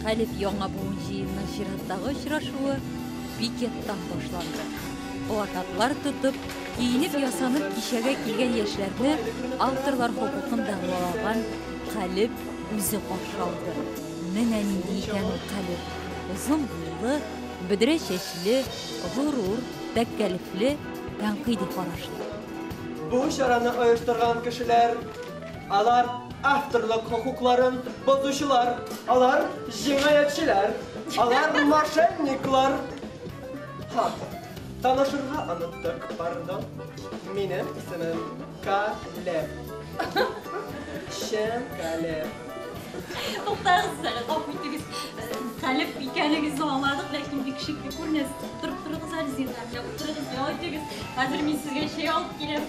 Хәлиф яңа буын җыенының чираттагы очрашуы пикеттан башланды. Плакатлар тотып, киенеп-ясанып кичәгә килгән яшьләрне авторлар хокукын дәгъвалаган Калеб үзе каршы алды. Менә нинди икән ул Калеб. Озын буйлы, бөдрә чәчле, горур, тәккәлефле, тәнкыйди карашлы. Бу чараны оештырган кешеләр Алар авторлык хокукларын бозучылар, алар җинаятьчеләр, алар мошенниклар. Ха, танышырга оныттык, пардон. Минем исемем Калеб. Чын Калеб. Туктагыз әле, гафу итегез. Калеб икәнегезне аңладык, ләкин бик шикле күренәсез. Торып торыгыз әле, зинһар, утырыгыз, ял итегез. Хәзер мин сезгә чәй алып киләм.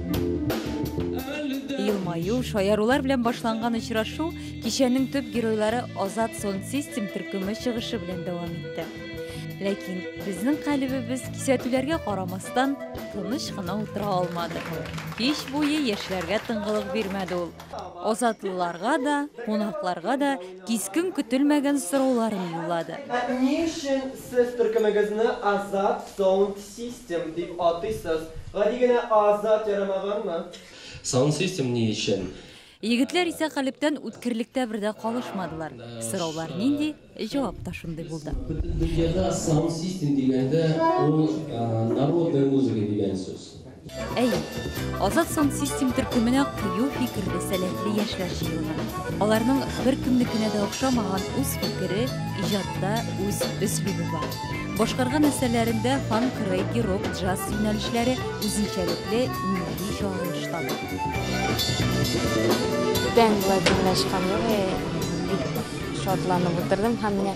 Елмаю, шаярулар белән башланган очрашу кичәнең төп геройлары Азат Сон Систем төркеме чыгышы белән дәвам итте. Ләкин безнең калебебез кисәтүләргә карамастан тыныч кына утыра алмады. Кич буе яшьләргә тыңгылык бирмәде ул. Азатлыларга да, кунакларга да Кискен көтелмәгән сорауларын юллады. Ә ни өчен сез төркемегезне Азат Саунд Систем дип атыйсыз? Гади генә Азат ярамаганмы? Саунд Систем ни өчен? Егетләр исә калебтән үткерлектә бер дә калышмадылар. Сораулар нинди, җавап та шундый булды. Бөтен дөньяда Саунд Систем дигәндә, ул народная музыка дигән сүз. Әйе, Азат Сансистем төркеменә кыю фикерле, сәләтле яшьләр җыелган. Аларның беркемнекенә дә охшамаган үз фикере, иҗатта үз өслүбе бар. Башкарган әсәрләрендә фанк, регги, рок, джаз юнәлешләре үзенчәлекле милли чагылыш таба. Күптән болай тыңлашкан юк, бик шатланып утырдым һәм менә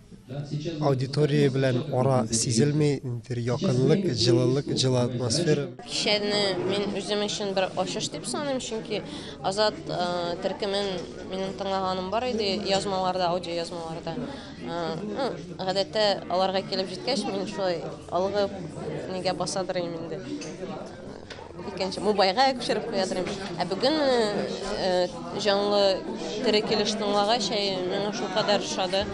Аудитория белән ара сизелми, ниндидер якынлык, җылылык, җылы атмосфера. Кичәне мин үзем өчен бер ачыш дип саныйм, чөнки Азат э, төркемен минем тыңлаганым бар иде язмаларда, аудиоязмаларда. Э, ну, гадәттә аларга килеп җиткәч, мин шулай алгы нигә басадыр инде. Икенче мобайга күчереп куя торыйм. Ә бүген җанлы тере килеш тыңлагач, миңа шулкадәр ошады.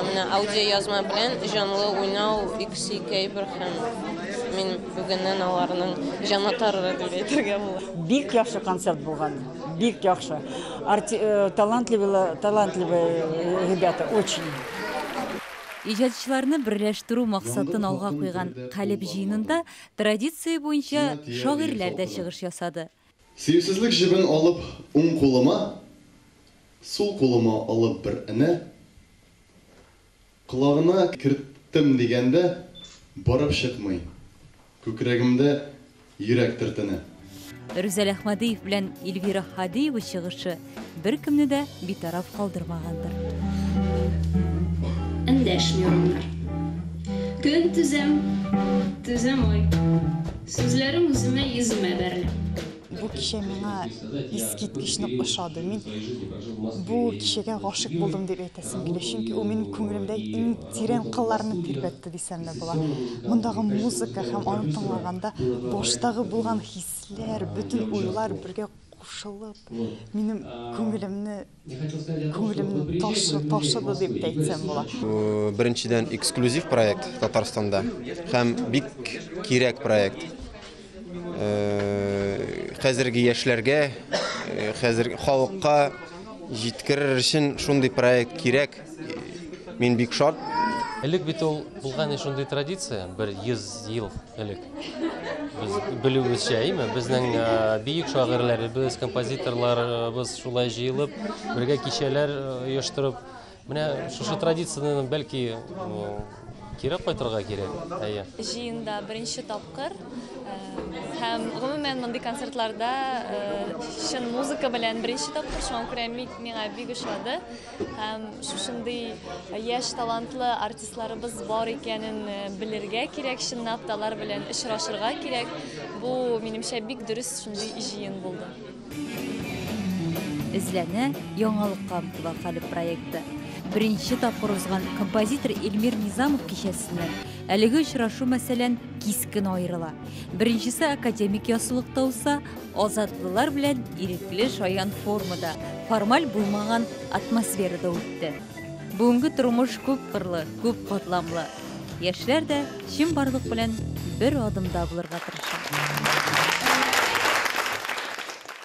Менә аудиоязма белән җанлы уйнау икесе ике әйбер һәм мин бүгеннән аларның җанатары дип әйтергә була. Бик яхшы концерт булган. Бик яхшы. Талантливый, талантливый ребята, очень. Иҗатчыларны берләштерү максатын алга куйган Калеб җыенында Традиция буенча шагыйрьләр дә чыгыш ясады. Сөюсезлек җебен алып уң кулыма, сул кулыма алып бер энә колагына керттем дигәндә барып чыкмый, күкрәгемдә йөрәк төртенә. Рүзәл Әхмәдиев белән Эльвира Хадиева чыгышы беркемне дә битараф калдырмагандыр. Эндәшми урамнар. Көн түзәм, түзәм ай. Сүзләрем үземә йөземә бәрелә. Бу кичә миңа искиткеч нык ошады. Мин бу кичәгә гашыйк булдым дип әйтәсем килә, чөнки ул минем күңелемдә иң Тирән кылларны тирбәтте дисәмме була. Мондагы музыка һәм аны тыңлаганда баштагы булган хисләр, бөтен уйлар бергә кушылып, минем күңелемне күңелемне ташыды, ташыды дип тә әйтсәм була. Бу, беренчедән, эксклюзив проект Татарстанда һәм бик кирәк проект. Хәзерге яшьләргә, хәзер халыкка җиткерер өчен шундый проект кирәк. Мин бик шат. Элек бит ул булган иде шундый традиция, бер 100 ел элек. Без белүебезчә, әйме, безнең бөек шагыйрьләребез, композиторларыбыз шулай җыелып, бергә кичәләр оештырып, Менә шушы традицияне бәлки кире кайтырга кирәк. Әйе. Җыенда беренче тапкыр э, һәм гомумән мондый концертларда э, чын музыка белән беренче тапкыр шуңа күрә миңа бик ошады һәм шушындый яшь талантлы артистларыбыз бар икәнен э, белергә кирәк чынлап та алар белән очрашырга кирәк бу минемчә бик дөрес шундый җыен булды Эзләнә яңалыкка омтыла Хәлеп проекты. Беренче тапкыр узган композитор Эльмир Низамов кичәсеннән әлеге очрашу мәсәлән кискен аерыла. Беренчесе академик ясылыкта узса, азатлылар белән ирекле шаян формада, формаль булмаган атмосферада үтте. Бүгенге тормыш күп кырлы, күп катламлы. Яшьләр дә чынбарлык белән бер адымда булырга тырыша.